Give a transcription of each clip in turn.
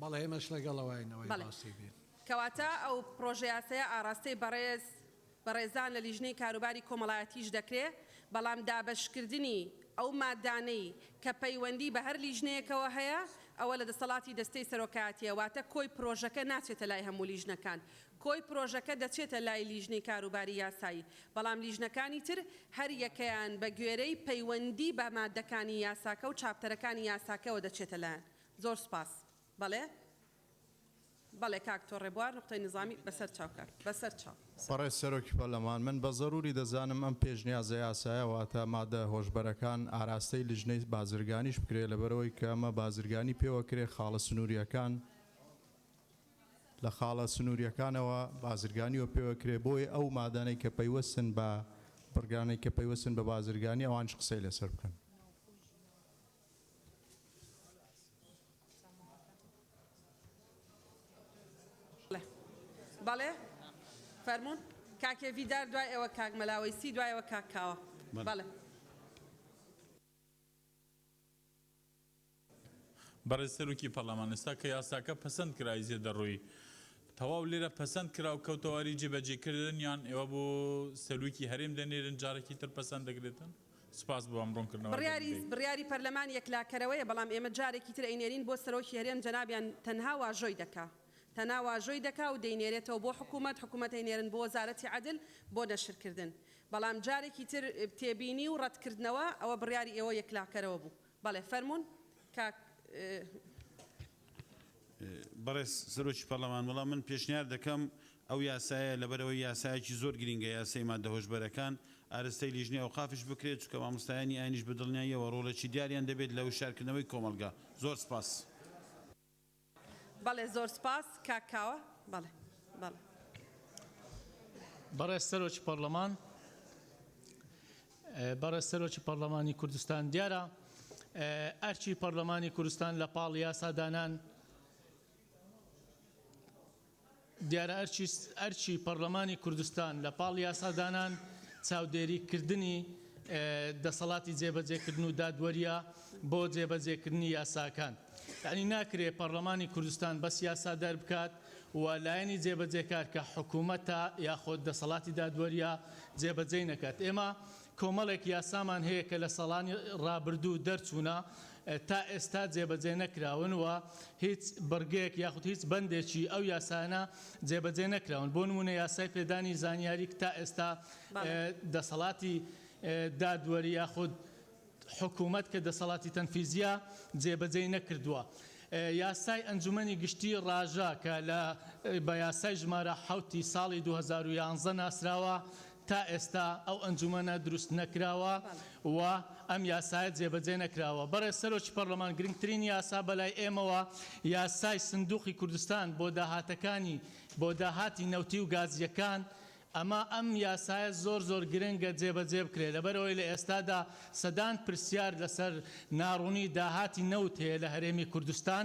بەڵێ ئێمەش لەگەڵەواین ئەوەی باسی بێت. کەواتە ئەو پڕۆژەیاسایە ئاڕاستەی بەڕێز بەڕێزان لە لیژنەی کاروباری کۆمەڵایەتیش دەکرێ، بەڵام دابەشکردنی ئەو مادانەی کە پەیوەندی بە هەر لیژنەیەکەوە هەیە ئەوە لە دەسەڵاتی دەستەی سەرۆکایەتیە، واتە کۆی پرۆژەکە ناچێتە لای هەموو لیژنەکان، کۆی پرۆژەکە دەچێتە لای لیژنەی کاروباری یاسایی، بەڵام لیژنەکانی تر هەر یەکەیان بە گوێرەی پەیوەندی بە مادەکانی یاساکە و چاپتەرەکانی یاساکەوە دەچێتە لایان زۆر سوپاس بەڵێ بەڵێ کاک تۆ ڕێبوار نوقتەی نیزامی بەسەر چاو کار بەسەر چاو. بەڕێز سەرۆکی پەرلەمان، من بە زەروری دەزانم ئەم پێشنیازە یاسایە واتە مادە هۆشبەرەکان ئاراستەی لجنەی بازرگانیش بکرێ لەبەرئەوەی کە ئەمە بازرگانی پێوەکرێ خاڵە سنوریەکان لە خاڵە سنوریەکانەوە بازرگانیوە پێوەکرێ بۆیە ئەو مادانەی کە پەیوەستن بە بڕگانەی کە پەیوەستن بە بازرگانی ئەوانش قسەی لەسەر بکەن. بەڵێ فەرموون کاکێ ڤیدار دوای ئێوە کاک مەلاوەیسی دوایەوە کاک کاوە بەڵێ. بەڕێز سەرۆکی پەرلەمان ئێستا کە یاساکە پەسەند کرا ئیزێ دەڕۆی تەواو لێرە پەسەند کرا و کەوتەواری جێبەجێکردن یان ئێوە بۆ سەرۆکی هەرێم دەنێرن جارێکی تر پەسەند دەکرێتن؟ سپاس بۆ ئەم ڕوونکردنەوە گەورەی. بڕیاری پەرلەمان یەکلاکەرەوەیە بەڵام ئێمە جارێکی تر ئەینێرین بۆ سەرۆکی هەرێم جەنابیان تەنها واژۆی دەکا تەنا واژۆی دەکا و دەینێرێتەوە بۆ حکومەت حکومەت ئەینێرن بۆ وەزارەتی عەدل بۆ نەشرکردن بەڵام جارێکی تر تێبینی و ڕەتکردنەوە ئەوە بڕیاری ئێوە یەکلاکەرەوە بوو بەڵێ فەرموون کاک. بەڕێز سەرۆکی پەڕلەمان وەڵا من پێشنیار دەکەم ئەو یاسایە لەبەرئەوەی یاسایەکی زۆر گرینگە یاسای ماددە هۆشبەرەکان ئارستەی لیژنەی ئەوقافیش بکرێت چونکە مامۆستایانی ئاینیش بەدڵنیاییەوە ڕۆڵێکی دیاریان دەبێت لە وشیارکردنەوەی کۆمەڵگا زۆر سپاس. بەڵێ زۆر سوپاس کاک کاوە بەڵێ بەڵێ. بەڕێز سەرۆکی پەڕلەمان بەڕێز سەرۆکی پەڕلەمانی کوردستان دیارە ئەرکی پەڕلەمانی کوردستان لە پاڵ یاسادانان دیارە ئەرکی ئەرکی پەڕلەمانی کوردستان لە پاڵ یاسادانان چاودێری کردنی دەسەڵاتی جێبەجێکردن و دادوەریە بۆ جێبەجێکردنی یاساکان یانی ناکرێ پەڕلەمانی کوردستان بەس یاسا دەربکات و لایەنی جێبەجێکار کە حکومەتە یاخۆد دەسەڵاتی دادوەریە جێبەجێی نەکات ئێمە کۆمەڵێک یاسامان هەیە کە لە ساڵانی ڕابردوو دەرچوونە تا ئێستا جێبەجێ نەکراون و هیچ بڕگەیەک یاخود هیچ بەندێکی ئەو یاسایانە جێبەجێ نەکراون بۆ نموونە یاسای پێدانی زانیاری کە تا ئێستا دەسەڵاتی دادوەری یاخود حکوومەت کە دەسەڵاتی تەنفیزیە جێبەجێی نەکردووە. یاسای ئەنجومەنی گشتی ڕاژە کە لە بە یاسای ژمارە حەوتی ساڵی دوو هەزار و یازدە ناسراوە تا ئێستا ئەو ئەنجومەنە دروست نەکراوە و ئەم یاسایە جێبەجێ نەکراوە. بەڕێز سەرۆکی پەڕلەمان گرنگترین یاسا بەلای ئێمەوە یاسای سندوقی کوردستان بۆ داهاتەکانی بۆ داهاتی نەوتی و گازییەکان ئەمە ئەم یاسایە زۆر زۆر گرنگە جێبەجێ بکرێت لەبەرئەوەی لە ئێستادا سەدان پرسیار لەسەر ناڕوونی داهاتی نەوت هەیە لە هەرێمی کوردستان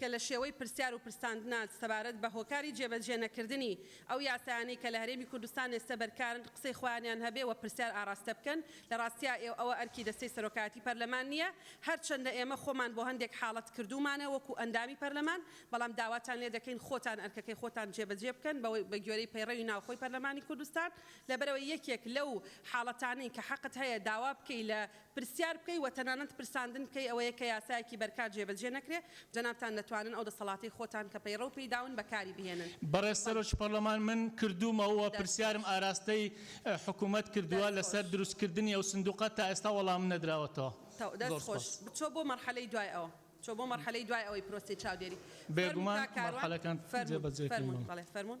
کە لە شێوەی پرسیار و پرساندنە سەبارەت بە هۆکاری جێبەجێ نەکردنی ئەو یاسایانەی کە لە هەرێمی کوردستان ئێستە بەرکارن قسەی خۆیانیان هەبێ و پرسیار ئاڕاستە بکەن، لە ڕاستیا ئێ ئەوە ئەرکی دەستەی سەرۆکایەتی پەرلەمان نییە، هەرچەندە ئێمە خۆمان بۆ هەندێک حاڵەت کردوومانە وەکوو ئەندامی پەرلەمان، بەڵام داواتان لێ دەکەین خۆتان ئەرکەکەی خۆتان جێبەجێ بکەن بە بە گوێرەی پەیڕەوی ناوخۆی پەرلەمانی کوردستان، لەبەرئەوەی یەکێک لەو حاڵەتانەی کە حەقت هەیە داوا بکەی لە پرسیار بکەی وە تەنانەت پرساندن بکەی ئەوەیە کە یاسایەکی بەرکار جێ بەجێ نەکرێ، جەنابتان دەتوانن ئەو دەسەڵاتەی خۆتان کە پەیڕەو پێی داون بەکاری بهێنن. بەڕێز سەرۆکی پەڕلەمان من کردوومە و دەست پرسیارم خۆش. ئاراستەی حکوومەت کردووە دەست لەسەر خۆش. دروست کردنی ئەو سندووقە تا ئێستا وەڵامم نەدراوەتەوە. تەو. دەست زۆر خۆش. سپاس. بچۆ بۆ مەڕحەلەی دوای ئەوە. چۆ بۆ مەڕحەلەی دوای ئەوەی پرۆسەی چاودێری. فەرموون بێگومان کاک کاروان. مەڕحەلەکان جێ فەرموون. بەجێ کردووە. بەڵێ فەرموون.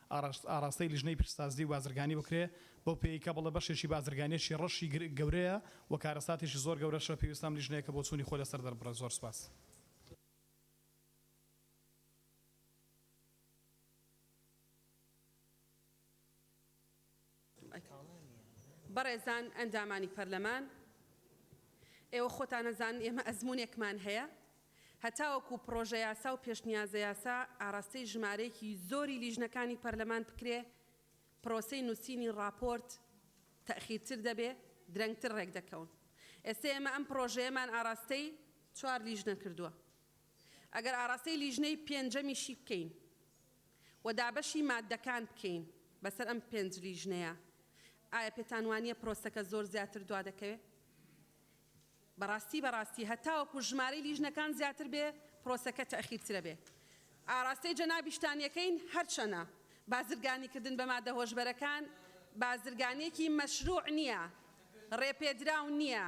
ئاڕاستەی لیژنەی پیشسازی و بازرگانی بکرێ بەو پێیەی کە بڵێ بەشێکی بازرگانیەکی ڕەشی گەورەیە و کارەساتێکی زۆر گەورەشە پێویستە ئەم لیژنەیەکە بۆچوونی خۆی لەسەر دەربڕێ زۆر سوپاس. بەڕێزان ئەندامانی پەرلەمان، ئێوە خۆتان ئەزانن ئێمە ئەزموونێکمان هەیە، هەتاوەکو پڕۆژەیاسا و پێشنیازەیاسا ئاراستەی ژمارەیەکی زۆری لیژنەکانی پەرلەمان بکرێ، پرۆسەی نووسینی ڕاپۆرت تەئخیرتر دەبێ، درەنگتر ڕێکدەکەون. ئێستە ئێمە ئەم پڕۆژەیەمان ئاراستەی چوار لیژنە کردووە. ئەگەر ئاراستەی لیژنەی پێنجەمیشی بکەین و دابەشی ماددەکان بکەین بەسەر ئەم پێنج لیژنەیە، ئایا پێتانوانییە پرۆسەکە زۆر زیاتر دوا دەکەوێت؟ بەڕاستی بەڕاستی هەتاوەکو ژمارەی لیژنەکان زیاتر بێ پرۆسەکە تەئخیرترە بێ. ئاراستەی جەنابیشتان یەکەین هەرچەنە بازرگانیکردن بە ماددە هۆشبەرەکان بازرگانییەکی مەشروع نییە، ڕێپێدراو نییە،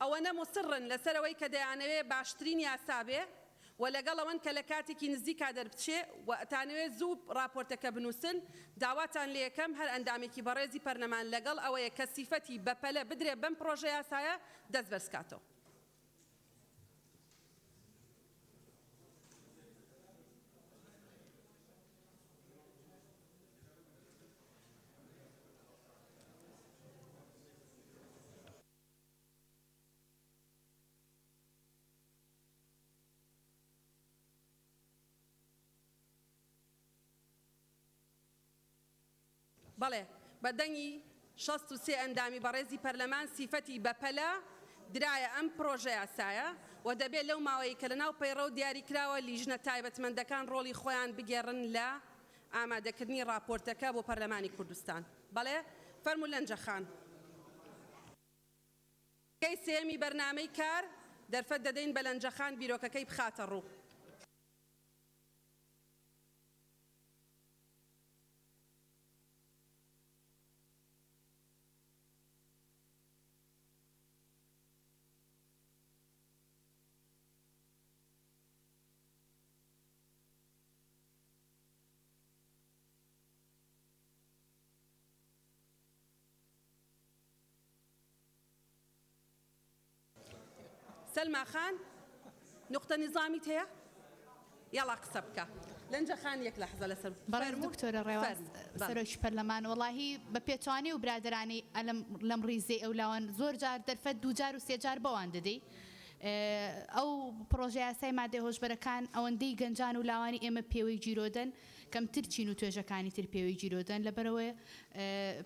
ئەوەنە موسڕن لەسەر ئەوەی کە دەیانەوێ باشترین یاسا بێ و لەگەڵ ئەوەن کە لە کاتێکی نزیکا دەربچێ و ئەتانەوێ زوو ڕاپۆرتەکە بنووسن، داواتان لێەکەم هەر ئەندامێکی بەڕێزی پەرلەمان لەگەڵ ئەوەی کە سیفەتی بەپەلە بدرێ بەم پڕۆژە یاسایە دەست بەرز کاتەوە. بەڵێ بە دەنگی شەست و سێ ئەندامی بەڕێزی پەرلەمان سیفەتی بەپەلە درایە ئەم پڕۆژەیاسایە و دەبێت لەو ماوەی کە لەناو پەیڕەو دیاریکراوە لیژنە تایبەتمەندەکان ڕۆڵی خۆیان بگێڕن لە ئامادەکردنی ڕاپۆرتەکە بۆ پەرلەمانی کوردستان. بەڵێ فەرموو لەنجە خان. بەشەکەی سێیەمی بەرنامەی کار دەرفەت دەدەین بە لەنجە خان بیرۆکەکەی بخاتە ڕوو. سەلما خان نوقتە نیزامیت هەیە یەڵا قسە بکە لەنجە خان یەک لەحزە لەسەر بەڕێز دکتۆرە ڕێواز سەرۆکی پەرلەمان وەڵاهی بە پێچەوانەی و برادەرانی ئەلەم لەم ڕیزەی ئەولاوان زۆر جار دەرفەت دوو جار و سێ جار بەوان دەدەی ئەو پڕۆژەیاسای ماددە هۆشبەرەکان ئەوەندەی گەنجان و لاوانی ئێمە پێوەی گیرۆدەن، کەمتر چین و توێژەکانی تر پێوەی گیرۆدەن، لەبەرئەوە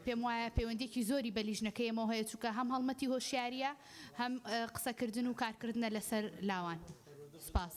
پێم وایە پەیوەندییەکی زۆری بە لیژنەکەی ئێمەوە هەیە، چونکە هەم هەڵمەتی هۆشیارییە، هەم قسەکردن و کارکردنە لەسەر لاوان. سپاس.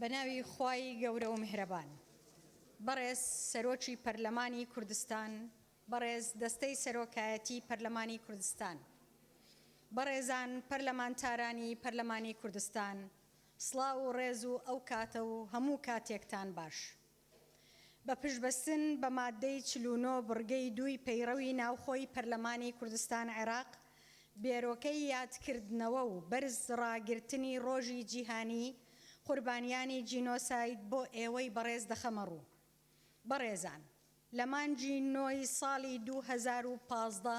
بەناوی خوای گەورە و میهرەبان. بەڕێز سەرۆکی پەرلەمانی کوردستان، بەڕێز دەستەی سەرۆکایەتی پەرلەمانی کوردستان، بەڕێزان پەرلەمانتارانی پەرلەمانی کوردستان، سڵاو و ڕێز و ئەو کاتە و هەموو کاتێکتان باش. بە پشتبەستن بە ماددەی چل و نۆ بڕگەی دووی پەیڕەوی ناوخۆی پەرلەمانی کوردستان عێراق بێرۆکەی یادکردنەوە و بەرز ڕاگرتنی ڕۆژی جیهانی قوربانیانی جینۆساید بۆ ئێوەی بەڕێز دەخەمە ڕوو. بەڕێزان لە مانگی نۆی ساڵی دوو هەزار و پازدە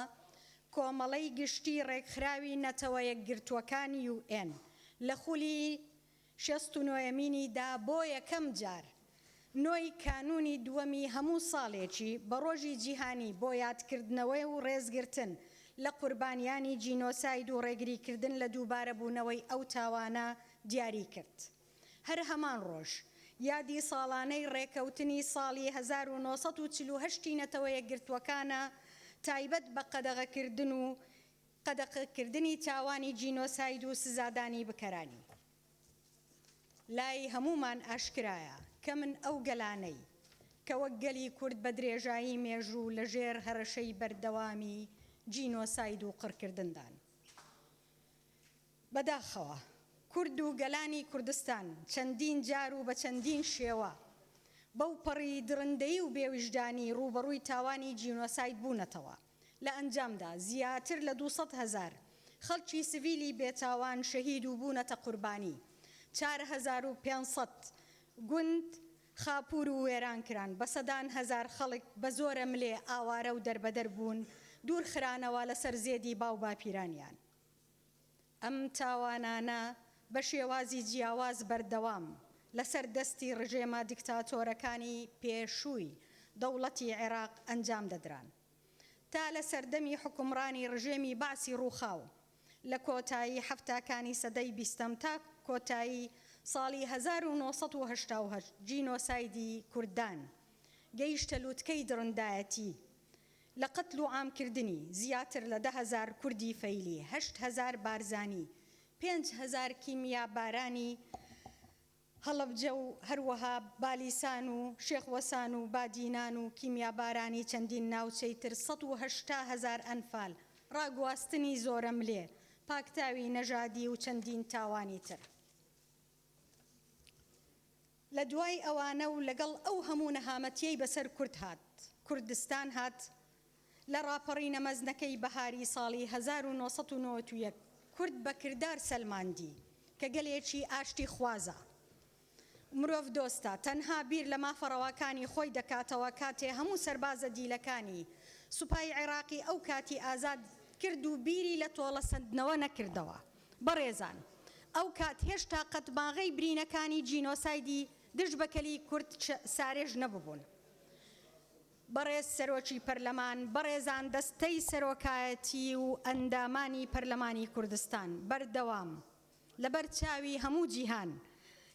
کۆمەڵەی گشتی ڕێکخراوی نەتەوە یەکگرتووەکان، یو ئێن، لە خولی شەست و نۆیەمینی دا بۆ یەکەم جار نۆ ی کانوونی دووەمی هەموو ساڵێکی بە ڕۆژی جیهانی بۆ یادکردنەوەی و ڕێزگرتن لە قوربانیانی جینۆساید و ڕێگریکردن لە دووبارەبوونەوەی ئەو تاوانە دیاری کرد هەر هەمان ڕۆژ یادی ساڵانەی ڕێکەوتنی ساڵی هەزار و نۆ سەد و چل و هەشت ی نەتەوە یەکگرتووەکانە تایبەت بە قەدەغەکردن و قەدەقەکردنی تاوانی جینۆساید و سزادانی بکەرانی. لای هەموومان ئاشکرایە کە من ئەو گەلانەی کە وەک گەلی کورد بە درێژایی مێژوو لە ژێر هەرەشەی بەردەوامی جینۆساید و قڕکردندان، بەداخەوە کورد و گەلانی کوردستان چەندین جار و بە چەندین شێوە بەوپەڕی دڕندەیی و بێویژدانی ڕووبەڕووی تاوانی جینۆساید بوونەتەوە، لە ئەنجامدا زیاتر لە دوو سەد هەزار خەڵکی سڤیلی بێتاوان شەهید و بوونەتە قوربانی، چار هەزار و پێنج سەد گوند خاپوور و وێران کران، بە سەدان هەزار خەڵک بە زۆرەملێ ئاوارە و دەربەدەر بوون، دوورخرانەوە لەسەر زێدی باوباپیرانیان. ئەم تاوانانە بە شێوازی جیاواز بەردەوام لەسەر دەستی ڕژێمە دیکتاتۆرەکانی پێشووی دەوڵەتی عێراق ئەنجام دەدران تا لە سەردەمی حوکمڕانی ڕژێمی بەعسی ڕووخاو لە کۆتایی حەفتاکانی سەدەی بیستەم تا کۆتایی ساڵی هەزار و نۆ سەد و هەشتا و هەشت جینۆسایدی کوردان گەیشتە لوتکەی دڕندایەتی لە قەتل و عام کردنی زیاتر لە دە هەزار کوردی فەیلی، هەشت هەزار بارزانی، پێنج هەزار کیمیابارانی هەڵەبجە و هەروەها بالیسان و شێخ وەسان و بادینان و کیمیابارانی چەندین ناوچەی تر، سەد و هەشتا هەزار ئەنفال، ڕاگواستنی زۆرەملێ، پاکتاوی نەژادی و چەندین تاوانی تر. لە دوای ئەوانە و لەگەڵ ئەو هەموو نەهامەتیەی بەسەر کورد هات کوردستان هات لە ڕاپەڕینە مەزنەکەی بەهاری ساڵی هەزار و نۆ سەد و نەوەد و یەک کورد بە کردار سەلماندی کە گەلێکی ئاشتی خوازە و مرۆڤ دۆستە تەنها بیر لە مافە ڕەواکانی خۆی دەکاتەوە کاتێ هەموو سەربازە دیلەکانی سوپای عێراقی ئەو کاتی ئازاد کرد و بیری لە تۆڵە سەندنەوە نەکردەوە. بەڕێزان ئەو کات هێشتا قەتماغەی برینەکانی جینۆسایدی دژ بە کەلی کورد سارێژ نەببون. بەڕێز سەرۆکی پەرلەمان، بەڕێزان دەستەی سەرۆکایەتی و ئەندامانی پەرلەمانی کوردستان، بەردەوام لە بەر چاوی هەموو جیهان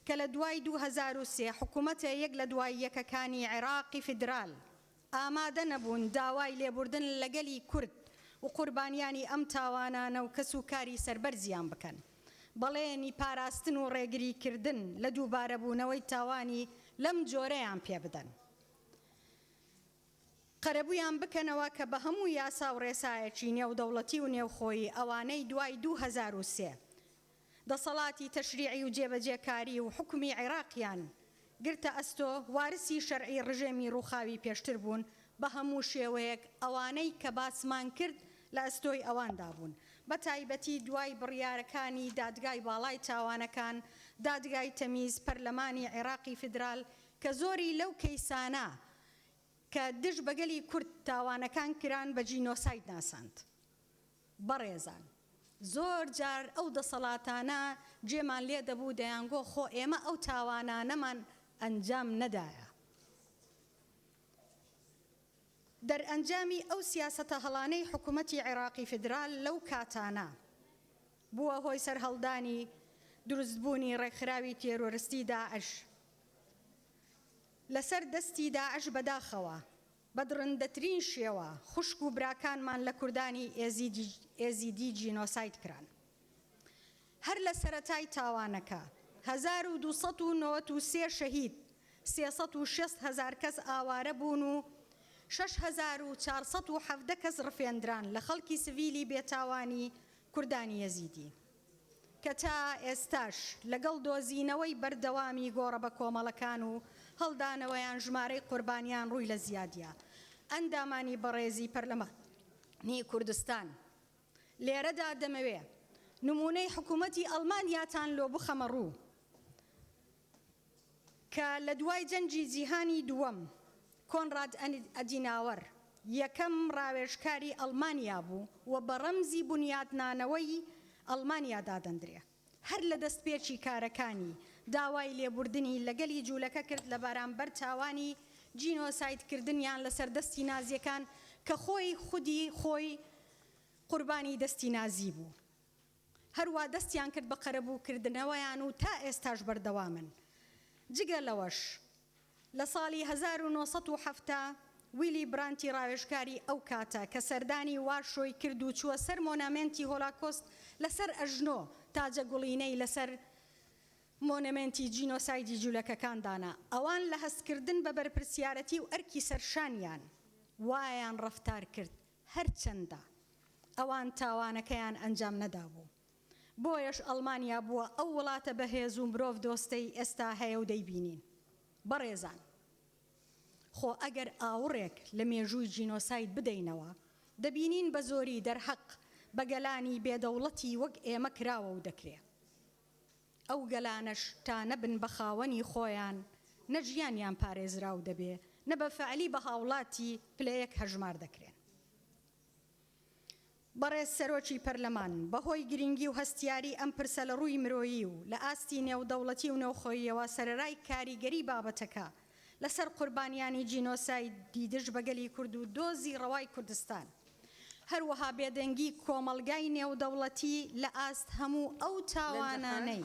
کە لە دوای دوو هەزار و سێ حکومەتە یەک لە دوای یەکەکانی عێراقی فیدرال، ئامادە نەبوون داوای لێبوردن لە گەلی کورد وقوربانیانی ئەم تاوانانە و کەس و کاری سەربەرزیان بکەن بەڵێنی پاراستن و ڕێگری کردن لە دووبارە بوونەوەی تاوانی لەم جۆرەیان پێ بدەن قەرەبوویان بکەنەوە کە بە هەموو یاسا و ڕێسایەکی نێودەوڵەتی و نێوخۆیی ئەوانەی دوای دوو هەزار و سێ دەسەڵاتی تەشریعی و جێبەجێکاری و حکومی عێراقیان گرتە ئەستۆ، وارسی شەرعی ڕژێمی ڕووخاوی پێشتر بوون، بە هەموو شێوەیەک ئەوانەی کە باسمان کرد لە ئەستۆی ئەواندا بوون، بە تایبەتی دوای بڕیارەکانی دادگای باڵای تاوانەکان، دادگای تەمیز، پەرلەمانی عێراقی فیدرال کە زۆری لەو کەیسانە کە دژ بە گەلی کورد تاوانەکان کران بە جینۆساید ناساند. بەڕێزان زۆر جار ئەو دەسەڵاتانە گوێمان لێ دەبوو دەیانگۆ خۆ ئێمە ئەو تاوانانەمان ئەنجام نەدایە. دەرئەنجامی ئەو سیاسەتە هەڵانەی حکومەتی عێراقی فیدرال لەو کاتانە بووە هۆی سەرهەڵدانی دروست بوونی ڕێکخراوی تێرۆرستی داعش لەسەر دەستی داعش بەداخەوە. بە دڕندەترین شێوە خوشک و براکانمان لە کوردانی ئێزیدی جینۆساید کران. هەر لە سەرەتای تاوانەکە هەزار و دوو سەد و نەوەد و سێ شەهید، سێ سەد و شەست هەزار کەس ئاوارە بوون و شەش هەزار و چوار سەد و حەڤدە کەس ڕفێندران لە خەڵکی سڤیلی بێتاوانی کوردانی ئێزیدی. کە تا ئێستاش لەگەڵ دۆزینەوەی بەردەوامی گۆڕە بەکۆمەڵەکان و هەڵدانەوەیان ژمارەی قوربانیان ڕووی لە زیادییە. ئەندامانی بەڕێزی پەرلەمانی کوردستان، لێرەدا دەمەوێ نموونەی حکوومەتی ئەڵمانیاتان لۆ بخەمە ڕوو، کە لە دوای جەنگی جیهانی دووەم کۆنراد ئەدیناوەر یەکەم ڕاوێژکاری ئەڵمانیا بوو و بە ڕەمزی بونیادنانەوەی ئەڵمانیا دادەندرێ. هەر لە دەستپێکی کارەکانی داوای لێبوردنی لە گەلی جوولەکە کرد لە بەرامبەر تاوانی جینۆساید کردنیان لە سەر دەستی نازیەکان کە خۆی خودی خۆی قوربانی دەستی نازی بوو. هەروا دەستیان کرد بە قەرەبوو کردنەوەیان و تا ئێستاش بەردەوامن. جگە لەوەش لە ساڵی هەزار و نۆ سەد و حەفتا ویلی برانتی ڕاوێژکاری ئەو کاتە کە سەردانی وارشۆی کرد و چووە سەر مۆنامێنتی هۆلاکۆست لە سەر ئەژنۆ تاجە گوڵینەی لە سەر مۆنەمێنتی جینۆسایدی جولەکەکان دانا ئەوان لە هەست کردن بە بەرپرسیارەتی و ئەرکی سەر شانیان وایان ڕەفتار کرد هەرچەندە ئەوان تاوانەکەیان ئەنجام نەدابوو، بۆیەش ئەڵمانیا بووە ئەو وڵاتە بەهێز و مرۆڤ دۆستەی ئێستا هەیە و دەیبینین. بەڕێزان خۆ ئەگەر ئاوڕێک لە مێژووی جینۆساید بدەینەوە، دەبینین بە زۆری دەرهەق بە گەلانی بێ دەوڵەتی وەک ئێمە کراوە و دەکرێ. ئەو گەلانەش تا نەبن بە خاوەنی خۆیان، نە ژیانیان پارێزراو دەبێ، نە بە فەعلی بە هاوڵاتی پلە یەک هەژمار دەکرێن. بەڕێز سەرۆکی پەرلەمان، بە هۆی گرینگی و هەستیاری ئەم پرسە لە ڕووی مرۆیی و لە ئاستی نێودەوڵەتی و نەوخۆییەوە سەرەرای کاریگەری بابەتەکە، لەسەر قوربانیانی جینۆسایدی دژ بە گەلی کورد و دۆزی ڕەوای کوردستان، هەروەها بێدەنگی کۆمەڵگای نێودەوڵەتی لە ئاست هەموو ئەو تاوانانەی.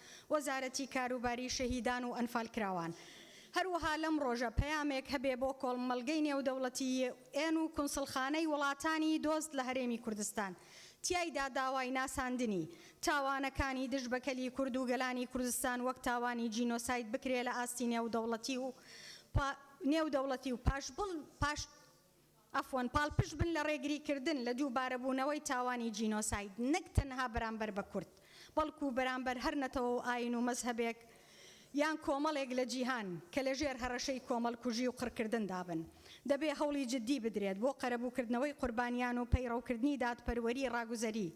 وەزارەتی کاروباری شەهیدان و ئەنفالکراوان. هەروەها لەم ڕۆژە پەیامێک هەبێ بۆ کۆڵمەڵگەی نێودەوڵەتی، یو ئێن، و کونسڵخانەی وڵاتانی دۆست لە هەرێمی کوردستان، تیایدا داوای ناساندنی، تاوانەکانی دژ بە کەلی کورد و گەلانی کوردستان وەک تاوانی جینۆساید بکرێ لە ئاستی نێودەوڵەتی و نێودەوڵەتی و پاش عەفوەن، پاڵپشت بن لە ڕێگریکردن لە دووبارەبوونەوەی تاوانی جینۆساید، نەک تەنها بەرامبەر بە کورد، بەڵکو بەرامبەر هەر نەتەوە و ئایین و مەزهەبێک یان کۆمەڵێک لە جیهان کە لەژێر هەڕەشەی کۆمەڵکوژی و قڕکردندا بن. دەبێ هەوڵی جددی بدرێت بۆ قەرەبووکردنەوەی قوربانیان و پەیڕەوکردنی دادپەروەری ڕاگوزەری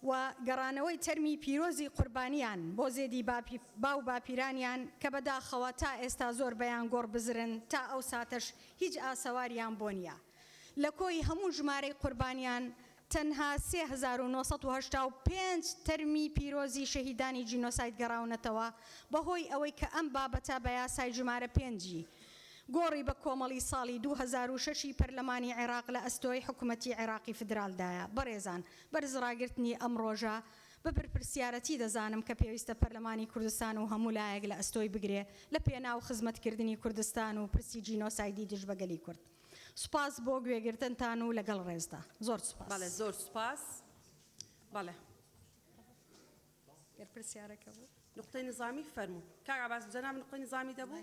و گەڕانەوەی تەرمی پیرۆزی قوربانیان بۆ زێدی با و باپیرانیان کە بەداخەوە تا ئێستا زۆر بەیان گۆڕ بزرن تا ئەو ساتەش هیچ ئاسەواریان بۆ نیە لە کۆی هەموو ژمارەی قوربانیان تەنها سێ هەزار و نۆ سەد و هەشتا و پێنج تەرمی پیرۆزی شەهیدانی جینۆساید گەڕاونەتەوە بەهۆی ئەوەی کە ئەم بابەتە بە یاسای ژمارە پێنجی گۆڕی بە کۆمەڵی ساڵی دوو هەزار و شەش ی پەرلەمانی عێراق لە ئەستۆی حکومەتی عێراقی فدراڵدایە بەڕێزان بەرز ڕاگرتنی ئەم ڕۆژە بە بەرپرسیارەتی دەزانم کە پێویستە پەرلەمانی کوردستان و هەموو لایەک لە ئەستۆی بگرێ لە پێناو خزمەتکردنی کوردستان و پرسی جینۆسایدی دژ بە گەلی کورد. سوپاس بۆ گوێگرتنتان و لەگەڵ ڕێزدا. زۆر سوپاس. بەڵێ زۆر سوپاس. بەڵێ. بەرپرسیارەکە بوو. نوقتەی نظامی فەرموو. کاک عەباس جەنابت نوقتەی نظامی دەبوو؟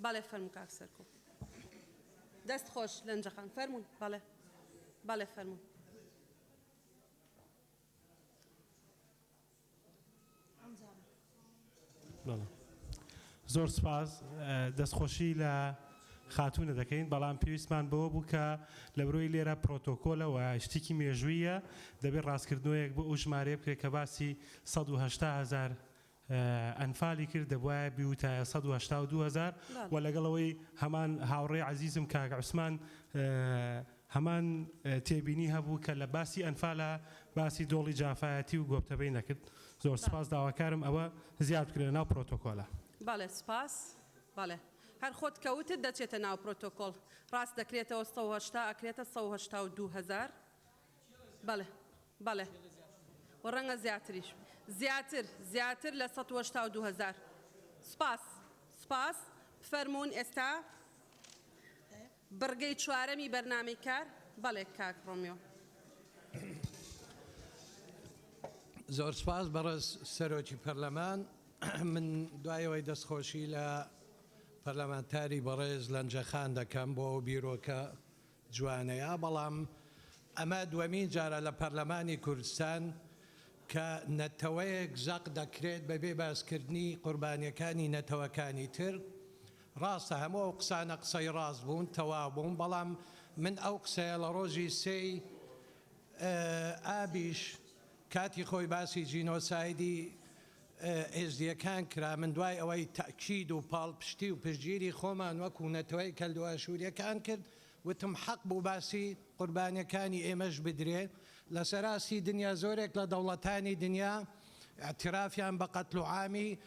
بەڵێ فەرموو کاک سەرکۆ. دەست خۆش لەنجە خان فەرموون بەڵێ بەڵێ فەرموون. زۆر سپاس دەستخۆشی لە خاتوونە دەکەین بەڵام پێویستمان بەوە بوو کە لە برۆی لێرە پرۆتۆکۆلەوە شتێکی مێژوویە دەبێت ڕاستکردنەوەیەک بۆ ئەو ژمارەیە بکرێت کە باسی 1800 هزار ئەنفالی کرد دەبوایە بیوتایە سەد و هەشتا و دوو هەزار وە لەگەڵ ئەوەی هەمان هاوڕێی عەزیزم کاک عوسمان هەمان تێبینی هەبوو کە لە باسی ئەنفالا باسی دۆڵی جافایەتی و گۆپتەبەی نەکرد زۆر سپاس داواکارم ئەوە زیاد بکرێ لەناو پرۆتۆکۆلە. بەڵێ سپاس بەڵێ هەر خۆت کە وتت دەچێتە ناو پرۆتۆکۆڵ ڕاست دەکرێتەوە سەد و هەشتا ئەکرێتە سەد و هەشتا و دوو هەزار بەڵێ بەڵێ و ڕەنگە زیاتریش زیاتر زیاتر لە سەد و هەشتا و دوو هەزار سوپاس سوپاس بفەرموون ئێستا بڕگەی چوارەمی بەرنامەی کار بەڵێ کاک ڕۆمیۆ. زۆر سوپاس بەڕێز سەرۆکی پەرلەمان من دوای ئەوەی دەستخۆشی لە پەرلەمانتاری بەڕێز لەنجەخان دەکەم بۆ ئەو بیرۆکە جوانەیا بەڵام ئەمە دوەمین جارە لە پەرلەمانی کوردستان کە نەتەوەیەک زەق دەکرێت بەبێ باسکردنی قوربانیەکانی نەتەوەکانی تر ڕاستە هەموو ئەو قسانە قسەی ڕاست بوون تەوابوون بەڵام من ئەو قسەیە لە ڕۆژی سێی ئابیش کاتی خۆی باسی جینۆسایدی ئێزدییەکان کرابن، دوای ئەوەی تەئکید و پاڵپشتی و پشتگیری خۆمان وەکو نەتەوەی کەلدوو ئاشوورییەکان کرد، وتم حەق بوو باسی قوربانییەکانی ئێمەش بدرێ، لە سەر ئاستی دنیا زۆرێک لە دەوڵەتانی دنیا ئیعترافیان بە قەتل و عامی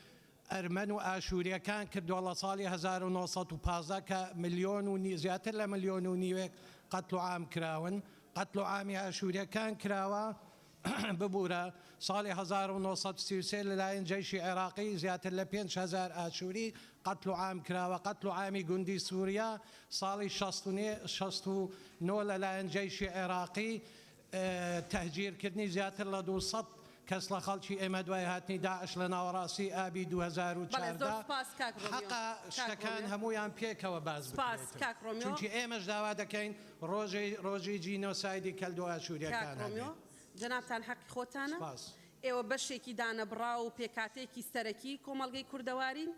ئەرمەن و ئاشوورییەکان کردووە لە ساڵی هەزار و نۆ سەد و پازدە کە ملیۆن و نی زیاتر لە ملیۆن و نیوێک قەتل و عام کراون، قەتل و عامی ئاشوورییەکان کراوە، ببورە ساڵی هەزار و نۆ سەد و سی و سێ لەلایەن جەیشی عێراقی زیاتر لە پێنج هەزار ئاشووری قەتل و عام کراوە قەتل و عامی گوندی سوریا ساڵی شەست و نۆ لەلایەن جەیشی عێراقی تەهجیر کردنی زیاتر لە دوو سەد کەس لە خەڵکی ئێمە دوای هاتنی داعش لە ناوەڕاستی ئابی دوو هەزار و چواردە حەقە شتەکان هەموویان پێکەوە باس بکرێت چونکی ئێمەش داوا دەکەین ڕۆژی ڕۆژی جینۆسایدی کەلدو ئاشوریەکان کاک ئەبێ. ڕۆمیۆ جەنابتان حەقی خۆتانە، سپاس. ئێوە بەشێکی دانەبڕاو و پێکهاتەیەکی سەرەکی کۆمەڵگەی کوردەوارین،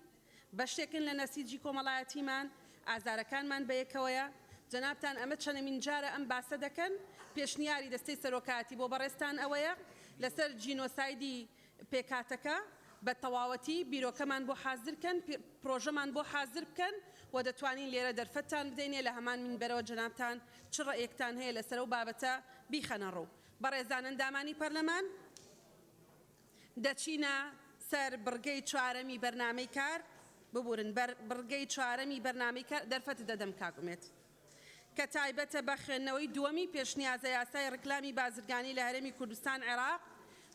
بەشێکن لە نەسیجی کۆمەڵایەتیمان، ئازارەکانمان بە یەکەوەیە، جەنابتان ئەمە چەنەمین جارە ئەم باسە دەکەن، پێشنیاری دەستەی سەرۆکایەتی بۆ بەڕێزتان ئەوەیە لەسەر جینۆسایدی پێکهاتەکە بە تەواوەتی بیرۆکەمان بۆ حازر کەن پرۆژەمان بۆ حازر بکەن و دەتوانین لێرە دەرفەتتان بدەینێ لە هەمان مینبەرەوە جەنابتان چ ڕەئیەکتان هەیە لەسەر ئەو بابەتە بیخەنە ڕوو بەڕێزان ئەندامانی پەرلەمان دەچینە سەر بڕگەی چوارەمی بەرنامەی کار ببورن بەر بڕگەی چوارەمی بەرنامەی کار دەرفەتت دەدەم کاک ئومێد. کە تایبەتە بە خوێندنەوەی دووەمی پێشنیازە یاسای ڕیکلامی بازرگانی لە هەرێمی کوردستان عێراق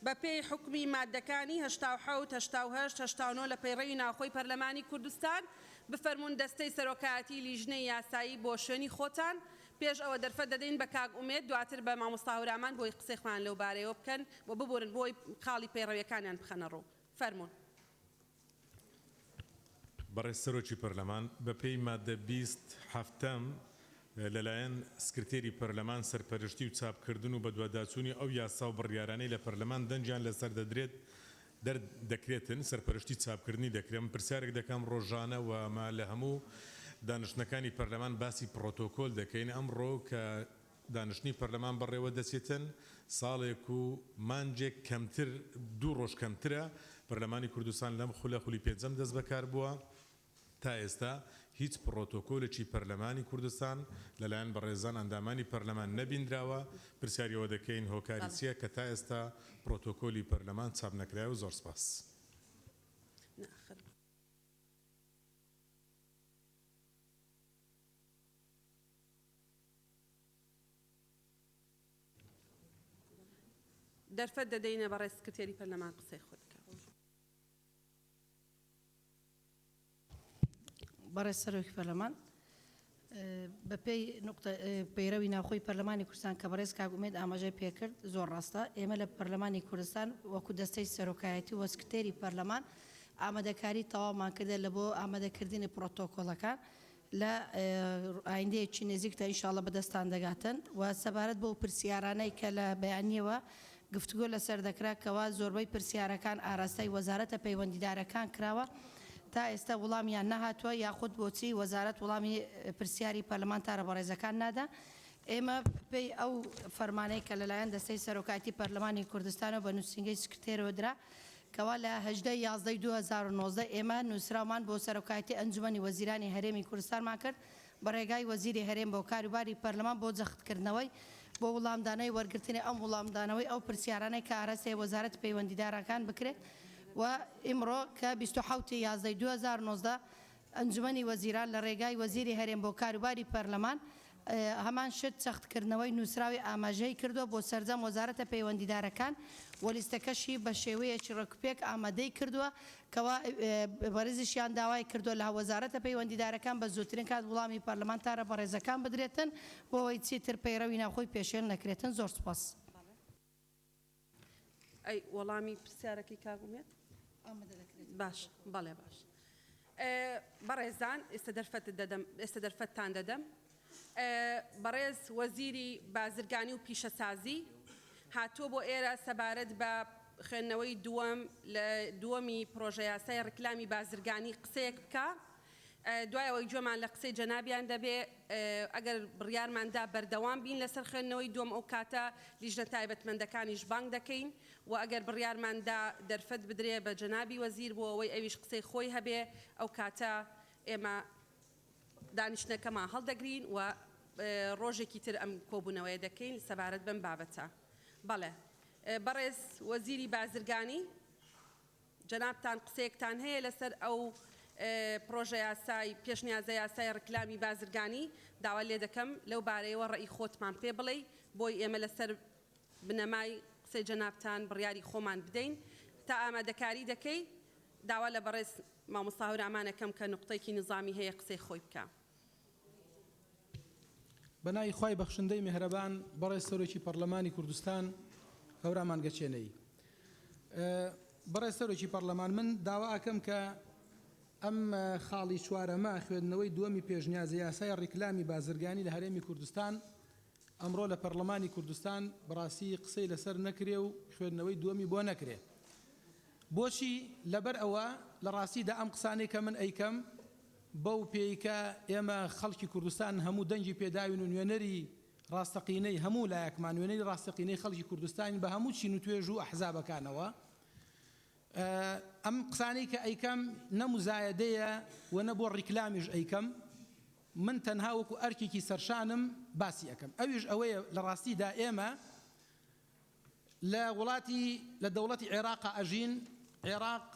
بە پێی حوکمی ماددەکانی هەشتا و حەوت، هەشتا و هەشت، هەشتا و نۆ لە پەیڕەوی ناوخۆی پەرلەمانی کوردستان بفەرموون دەستەی سەرۆکایەتی لیژنەی یاسایی بۆ شوێنی خۆتان پێش ئەوە دەرفەت دەدەین بە کاک ئومێد دواتر بە مامۆستا هەورامان بۆی قسەی خۆیان لەو بارەیەوە بکەن و ببورن بۆی خاڵی پەیڕەویەکانیان بخەنە ڕوو فەرموون. بەڕێز سەرۆکی پەرلەمان، بەپێی ماددە بیست حەفتەم، لەلایەن سکرتێری پەرلەمان سەرپەرشتی و چاپکردن و بەدواداچوونی ئەو یاسا و بڕیارانەی لە پەرلەمان دەنگیان لەسەر دەدرێت، دەر دەکرێتن، سەرپەرشتی چاپکردنی دەکرێم. پرسیارێک دەکەم، ڕۆژانە و مە لە هەموو دانیشتنەکانی پەرلەمان باسی پڕۆتۆکۆل دەکەین، ئەمڕۆ کە، دانیشتنی پەرلەمان بەڕێوە دەچێتن، ساڵێک و مانگێک کەمتر، دوو ڕۆژ کەمترە، پەرلەمانی کوردستان لەم خولە، خولی پێنجەم دەستبەکار بووە، تا ئێستا هیچ پڕۆتۆکۆلێکی پەرلەمانی کوردستان لەلایەن بەڕێزان ئەندامانی پەرلەمان نەبیندراوە، پرسیاری ئەوە دەکەین هۆکاری چییە کە تا ئێستا پڕۆتۆکۆلی پەرلەمان چاپ نەکرایەوە؟ زۆر سپاس. دەرفەت دەدەینە بەڕێز سکرتێری پەرلەمان قسەی خۆی بکات. بەڕێز سەرۆکی پەرلەمان، بەپێی نوقتە پەیرەوی ناوخۆی پەرلەمانی کوردستان کە بەڕێز کاک ئومێد ئاماژەی پێکرد زۆر ڕاستە، ئێمە لە پەرلەمانی کوردستان وەکو دەستەی سەرۆکایەتی و سکرتێری پەرلەمان ئامادەکاری تەواومان کردە لە بۆ ئامادەکردنی پڕۆتۆکۆڵەکان لە ئایندەیەکی نزیکدا ان شاءاللە بەدەستتان دەگاتن و سەبارەت بەو پرسیارانەی کە لە بەیانیەوە گفتوگۆ لەسەر دەکرا کەوا زۆربەی پرسیارەکان ئاراستەی وەزارەتە پەیوەندیدارەکان کراوە تا ئێستا وڵامیان نەهاتوە یاخود بۆچی وەزارەت وڵامی پرسیاری پەرلەمانتارە بەڕێزەکان نادا ئێمە پێی ئەو فەرمانەی کە لەلایەن دەستەی سەرۆکایەتی پەرلەمانی کوردستانەوە بە نوسینگەی سکرتێرەوە درا کەوا لە هەژدە یازدە ی دوو هەزار و نۆزدە ئێمە نوسراومان بۆ سەرۆکایەتی ئەنجومەنی وەزیرانی هەرێمی کورستانمان کرد بە رێگای وەزیری هەرێم بۆ کاروباری پەرلەمان بۆ جەختکردنەوەی بۆ وڵامدانەوەی وەرگرتنی ئەم وڵامدانەوەی ئەو پرسیارانەی کە ئاراستەی وەزارەتی پەیوەندیدارەکان بکرێت و ئیمڕۆ کە بیست و حەوت ی یازدە ی دوو هەزار و نۆزدە ئەنجومەنی وەزیران لە رێگای وەزیری هەرێم بۆ کاروباری پەرلەمان هەمان شت چەختکردنەوەی نوسراوی ئاماژهی کردوە بۆ سەرجەم وەزارەتە پەیوەندیدارەکان و لیستەکەشی بە شێوەیەکی رێکوپێک ئامادەی کردوە کەوا بەڕێزیشیان داوای کردوە لە وەزارەتە پەیوەندیدارەکان بە زوترین کات وڵامی پەرلەمانتارە بەڕێزەکان بدرێتن بۆ ئەوەی چیتر پەیڕەوی ناوخۆی پێشێل نەکرێتن زۆر سوپاس. ئەی وەڵامی پرسیارەکەی کاک ئومێد؟ ئامادە دەکرێت. باش، بەڵێ باش. بەڕێزان ئێستا دەرفەت دەدەم ئێستا دەرفەتتان دەدەم بەڕێز وەزیری بازرگانی و پیشەسازی هاتووە بۆ ئێرە سەبارەت بە خوێندنەوەی دووەم لە دووەمی پرۆژە یاسای ڕیکلامی بازرگانی قسەیەک بکە دوای ئەوەی گوێمان لە قسەی جەنابیان دەبێ ئەگەر بڕیارمان دا بەردەوام بین لەسەر خوێندنەوەی دووەم ئەو کاتە لیژنە تایبەتمەندەکانیش بانگ دەکەین و ئەگەر بڕیارمان دا دەرفەت بدرێ بە جەنابی وەزیر بۆ ئەوەی ئەویش قسەی خۆی هەبێ ئەو کاتە ئێمە دانیشتنەکەمان هەڵدەگرین و ڕۆژێکی تر ئەم کۆبوونەوەیە دەکەین سەبارەت بەم بابەتە. بەڵێ بەڕێز وەزیری بازرگانی. جەنابتان قسەیەکتان هەیە لەسەر ئەو پڕۆژە یاسای، پێشنیازە یاسای ڕیکلامی بازرگانی، داوات لێ دەکەم لەو بارەیەوە ڕەئی خۆتمان پێ بڵێی، بۆی ئێمە لەسەر بنەمای قسەی جەنابتان بڕیاری خۆمان بدەین. تا ئامادەکاری دەکەی داوا لە بەڕێز مامۆستا هەورامان ئەکەم کە نوقتەیەکی نیزامی هەیە قسەی خۆی بکا. بەناوی خوای بەخشندەی مێهرەبان بەڕێز سەرۆکی پەڕلەمانی کوردستان هەورامان گەچێنەی بەڕێز سەرۆکی پەڕلەمان من داوا ئەکەم کە ئەم خاڵی چوارەمە خوێندنەوەی دووەمی پێشنیازە یاسای ڕیکلامی بازرگانی لە هەرێمی کوردستان ئەمڕۆ لە پەرلەمانی کوردستان بڕاستی قسەی لەسەر نەکرێ و خوێندنەوەی دووەمی بۆ نەکرێ بۆچی لەبەر ئەوە لە ڕاستیدا ئەم قسانەی کە من ئەیکەم بەو پێی کە ئێمە خەڵکی کوردستان هەموو دەنگی پێداوین و نوێنەری ڕاستەقینەی هەموو لایەکمان، نوێنەری ڕاستەقینەی خەڵکی کوردستانین بە هەموو چین و توێژ و ئەحزابەکانەوە. ئەم قسانەی کە ئەیکەم نە موزایەدەیە و نە بۆ ڕیکلامیش ئەیکەم، من تەنها وەکو ئەرکێکی سەرشانم باسی ئەکەم. ئەویش ئەوەیە لە ڕاستیدا ئێمە، لە وڵاتی لە دەوڵەتی عێراقا ئەژین عێراق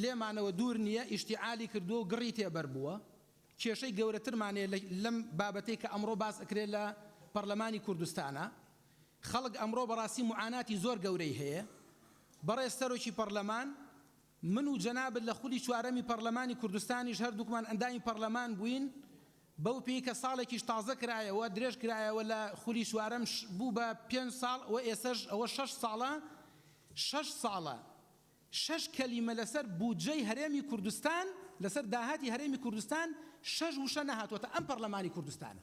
لێمانەوە دوور نیە ئیشتیعالی کردووە و گڕی تێ بەر بووە کێشەی گەورەترمان هەیە لە لەم بابەتەی کە ئەمڕۆ باس ئەکرێ لە پەڕلەمانی کوردستانا خەڵک ئەمڕۆ بەڕاستی معاناتی زۆر گەورەی هەیە بەڕێز سەرۆکی پەڕلەمان من و جەنابت لە خولی چوارەمی پەڕلەمانی کوردستانیش هەردووکمان ئەندامی پەڕلەمان بووین، بەو پێی کە ساڵێکیش تازە کرایەوە، درێژ کرایەوە لە خولی چوارەم بوو بە پێنج ساڵ و ئێسەش ئەوە شەش ساڵە، شەش ساڵە شەش کەلیمە لەسەر بودجەی هەرێمی کوردستان، لەسەر داهاتی هەرێمی کوردستان شەش وشە نەهاتووەتە ئەم پەڕلەمانی کوردستانە.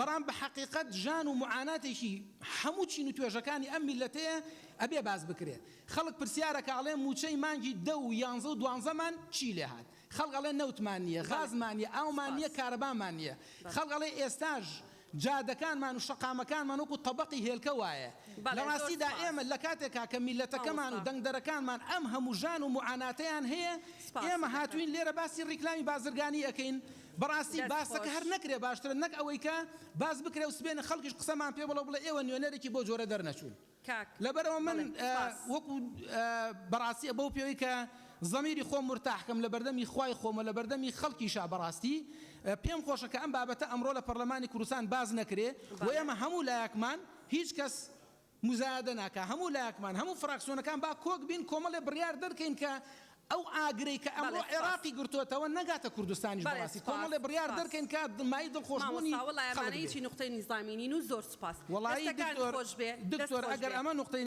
بەڵام بە حەقیقەت ژان و معاناتێکی هەموو چین و توێژەکانی ئەم میللەتەیە ئەبێ باس بکرێ خەڵک پرسیار ئەکا ئەڵێ مووچەی مانگی دە و یانزە و دوانزەمان چی لێ هات خەڵک ئەڵێ نەوتمان نیە غازمان نیە ئاومان نیە کارەبامان نیە خەڵک ئەڵێ ئێستاش جادەکانمان و شەقامەکانمان وەکو تەبەقی هێلکە وایە لە ڕاستیدا ئێمە لە کاتێکا کە میللەتەکەمان و دەنگدەرەکانمان ئەم هەموو ژان و معاناتەیان هەیە ئێمە هاتووین لێرە باسی ڕیکلامی بازرگانی ئەکەین بەڕاستی باسەکە هەر نەکرێ باشترە نەک ئەوەی کە باس بکرێ و سبێنێ خەڵکیش قسەمان پێ بڵێ و بڵێ ئێوە نوێنەرێکی بۆ جۆرە دەرنەچوون لەبەرئەوە من وەکو بەڕاستی بەو پێوەی کە زەمیری خۆم مورتاح کەم لە بەردەمی خوای خۆم و لە بەردەمی خەڵکیشا بەڕاستی پێم خۆشە کە ئەم بابەتە ئەمڕۆ لە پەڕلەمانی کوردستان باس نەکرێ و ئێمە هەموو لایەکمان هیچ کەس موزایەدە ناکا هەموو لایەکمان هەموو فراکسیۆنەکان با کۆک بین کۆمەڵێ بڕیار دەرکەین کە ئەو ئاگرەی کە ئەمڕۆ عێراقی گرتۆتەوە نەگاتە کوردستانیش بەڕاستی کۆمەڵێ بڕیار دەرکەین کە مایەی دڵخۆش بوونی خەڵک بێ وەڵایی دکتۆر دکتۆر ئەگەر ئەمە نوقتەی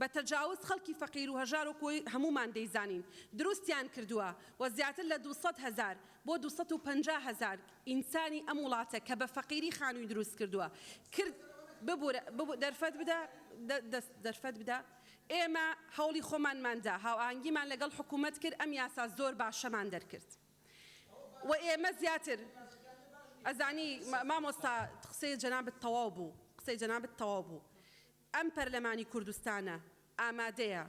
بە تەجاوز خەڵکی فەقیر و هەژار وەک وەی هەموومان دەیزانین دروستیان کردووە و زیاتر لە دوو سەد هەزار بۆ دوو سەد و پەنجا هەزار ئینسانی ئەم وڵاتە کە بە فەقیری خانووی دروست کردووە کرد ببورە ببو دەرفەت بدە دەست دەرفەت بدە ئێمە هەوڵی خۆمانمان دا هاوئاهەنگیمان لەگەڵ حکوومەت کرد ئەم یاسا زۆر باشەمان دەرکرد و ئێمە زیاتر ئەزانی مامۆستا قسەی جەنابت تەواو بوو قسەی جەنابت تەواو بوو ئەم پەرلەمانی کوردستانە ئامادەیە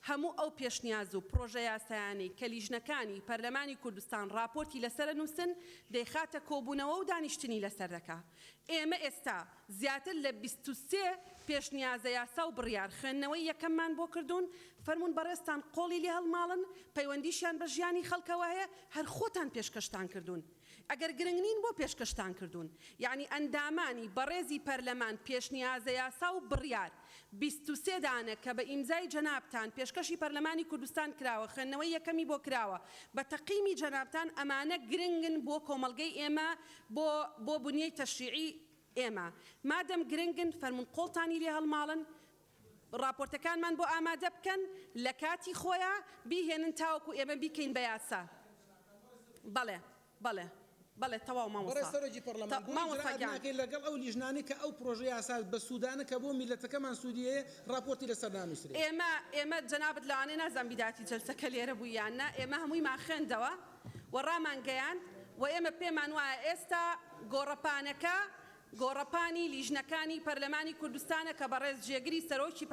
هەموو ئەو پێشنیاز و پڕۆژە یاسایانەی کە لیژنەکانی پەرلەمانی کوردستان ڕاپۆرتی لەسەرە نووسن دەیخاتە کۆبوونەوە و دانیشتنی لەسەر دەکا. ئێمە ئێستا زیاتر لە بیست و سێ پێشنیازە یاسا و بڕیار خوێندنەوەی یەکەممان بۆ کردوون، فەرموون بەڕێزتان قۆڵی لێ هەڵماڵن، پەیوەندیشیان بە ژیانی خەڵکەوە هەیە، هەر خۆتان پێشکەشتان کردوون. ئەگەر گرنگ نین بۆ پێشکەشتان کردوون؟ یەعنی ئەندامانی بەڕێزی پەرلەمان پێشنیازە یاسا و بڕیار بیست و سێ دانە کە بە ئیمزای جەنابتان پێشکەشی پەرلەمانی کوردستان کراوە خوێندنەوەی یەکەمی بۆ کراوە بە تەقیمی جەنابتان ئەمانە گرنگن بۆ کۆمەڵگەی ئێمە بۆ بۆ بنیەی تەشریعی ئێمە مادەم گرنگن فەرموون قۆڵتانی لێ هەڵماڵن ڕاپۆرتەکانمان بۆ ئامادە بکەن لە کاتی خۆیا بیهێنن تاوەکو ئێمە بیکەین بە یاسا بەڵێ بەڵێ بەڵێ تەواو مامۆستا بەڕێز سەرۆکی پەڕلەمان بۆ ئیجرائات ناکەین لەگەڵ ئەو لیژنانەی کە ئەو پڕۆژە یاسا بە سوودانە کە بۆ میللەتەکەمان سوودی هەیە ڕاپۆرتی لەسەر نانووسرێ. ئێمە ئێمە جەنابت لەوانەیە نازانم بیداتی جەلسەکە لێرە بوو یان نا ئێمە هەموویمان خوێندەوە و ڕامان گەیاند و ئێمە پێمان وایە ئێستا گۆڕەپانەکە گۆڕەپانی لیژنەکانی پەرلەمانی کوردستانە کە بەڕێز جێگری سەرۆکی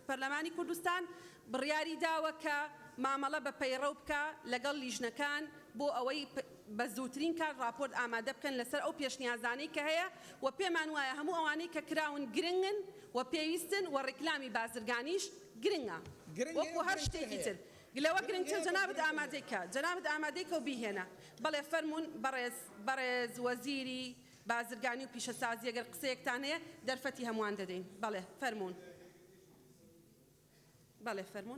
پەرلەمانی کوردستان بڕیاری داوە کە مامەڵە بە پەیڕەو بکا لەگەڵ لیژنەکان بۆ ئەوەی بە زووترین کات ڕاپۆرت ئامادە بکەن لەسەر ئەو پێشنیازانەی کە هەیە و پێمان وایە هەموو ئەوانەی کە کراون گرنگن و پێویستن و ڕیکلامی بازرگانیش گرنگە وەکوو هەر شتێکی تر. گلەوە گرنگ چە جەنابت ئامادەی کە جەنابت ئامادەی کە و بیهێنە بەڵێ فەرموون بەڕێز بەڕێز وەزیری بازرگانی و پیشەسازی گەر قسەیەکتان هەیە دەرفەتی هەمووان دەدەین بەڵێ فەرموون بەڵێ فەرموون.